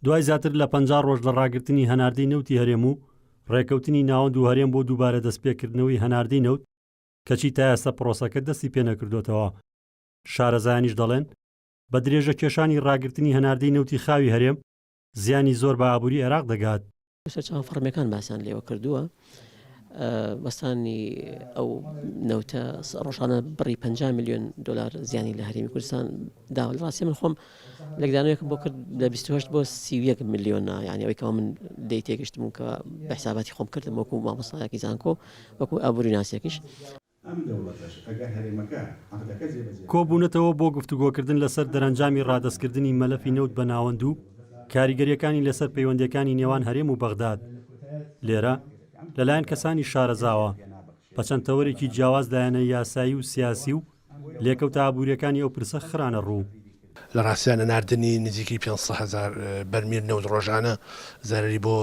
دوای زیاتر لە پەنجا ڕۆژ لە ڕاگرتنی هەناردەی نەوتی هەرێم و ڕێکەوتنی ناوەند و هەرێم بۆ دووبارە دەستپێکردنەوەی هەناردەی نەوت، کەچی تا ئێستا پرۆسەکە دەستی پێنەکردۆتەوە، شارەزایانیش دەڵێن، بە درێژەکێشانی ڕاگرتنی هەناردەی نەوتی خاوی هەرێم، زیانی زۆر بە ئابووری عێراق دەگات. سەرچاوە فەڕمیەکان باسیان لێوە کردووە وەستانی ئەو نەوتە ڕۆژانە بڕی 50 میلیۆن دلار زیانی لە هەرمی کوردستان داوە لە ڕاستی من خۆم لەگدانەوەیەک بۆ کرد لە 28 بۆ 31 میلیۆنە یانەوەیکەوە من دەی تێگەشتم کە بە حساباتی خۆم کردم وەکو مامۆسایەکی زانکۆ وەکو ئابووری ناسێکیش ئەم دەوڵەتەش ئەگەر هەرێمەکە عەقدەکە جێبەجێ نەکات. کۆبوونەتەوە بۆ گفتوگۆکردن لەسەر دەرەنجامی ڕادەستکردنی مەلەفی نەوت بە ناوەند و کاریگەرییەکانی لەسەر پەیوەندییەکانی نێوان هەرێم و بەغداد لێرە لەلایەن کەسانی شارەزاوە بە چەند تەوەرێکی جیاواز لایەنە یاسایی و سیاسی و لێکەوتە ئابوورییەکانی ئەو پرسە خرانەڕوو. لە ڕاستیدا نەناردنی نزیکەی پێنج سەد هەزار بەرمیل نەوت ڕۆژانە زەرەری بۆ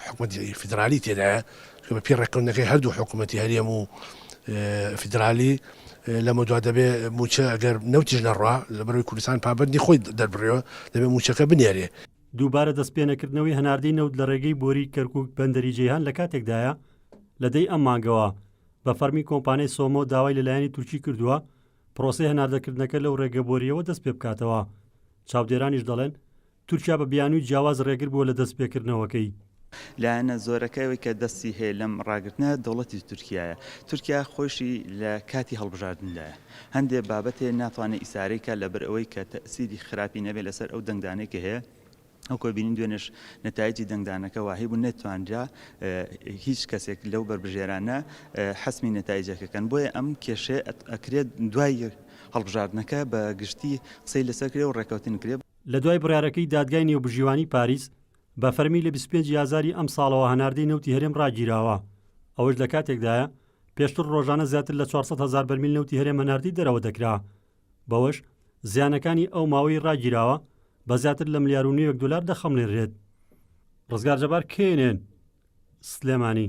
حکومەتی فیدرالی تێدایە کە بەپێی ڕێککەوتنەکەی هەردوو حکوومەتی هەرێم و فیدرالی لەمە دوا دەبێ موچە ئەگەر نەوتیش نەڕوا لە بەروی کوردستان پابندی خۆی دەربڕێەوە دەبێ موچەکە بنێرێ دووبارە دەستپێنەکردنەوەی هەناردەی نەوت لە ڕێگەی بۆری کەرکوک بەندەری جەیهان لە کاتێکدایە لە دەی ئەم مانگەوە بە فەرمی کۆمپانیای سۆمۆ داوای لەلایەنی تورکی کردووە پرۆسەی هەناردەکردنەکە لەو رێگە بۆرییەوە دەست پێ بکاتەوە، چاودێرانیش دەڵێن، تورکیا بە بیانووی جیاواز رێگر بووە لە دەست پێ کردنەوەکەی. لایەنە زۆرەکە ئەوەی کە دەستی هەیە لەم راگرتنە دەوڵەتی تورکیایە، تورکیا خۆیشی لە کاتی هەڵبژاردندایە، هەندێ بابەتێ ناتوانێ ئیسارەی کات لەبەر ئەوەی کە تەئسیری خراپی نەبێ لەسەر ئەو دەنگدانەی کە هەیە، وەکۆی بینین دوێنێش نەتایجی دەنگدانەکە واهی بوو نەتوانرا هیچ کەسێک لەو بەربژێرانە حەسمی نەتایجەکەکەن بۆیە ئەم کێشێ ئەکرێت دوای هەڵبژاردنەکە بە گشتی قسەی لەسەر کرێ و ڕێکەوتن کرێ لە دوای بڕیارەکەی دادگای نێوبژیوانی پاریس، بە فەرمی لە بیست و پێنج ی ئازاری ئەم ساڵەوە هەناردەی نەوتی هەرێم ڕاگیراوە، ئەوەش لە کاتێکدایە، پێشتر ڕۆژانە زیاتر لە چوار سەد هەزار بەرمیل نەوتی هەرێم هەناردەی دەرەوە دەکرا، بەوەش زیانەکانی ئەو ماوەی ڕاگیراوە بە زیاتر لە ملیار و نیوێک دۆلار دەخەمڵێنرێت. ڕزگار جەبار، کەینێن، سلێمانی.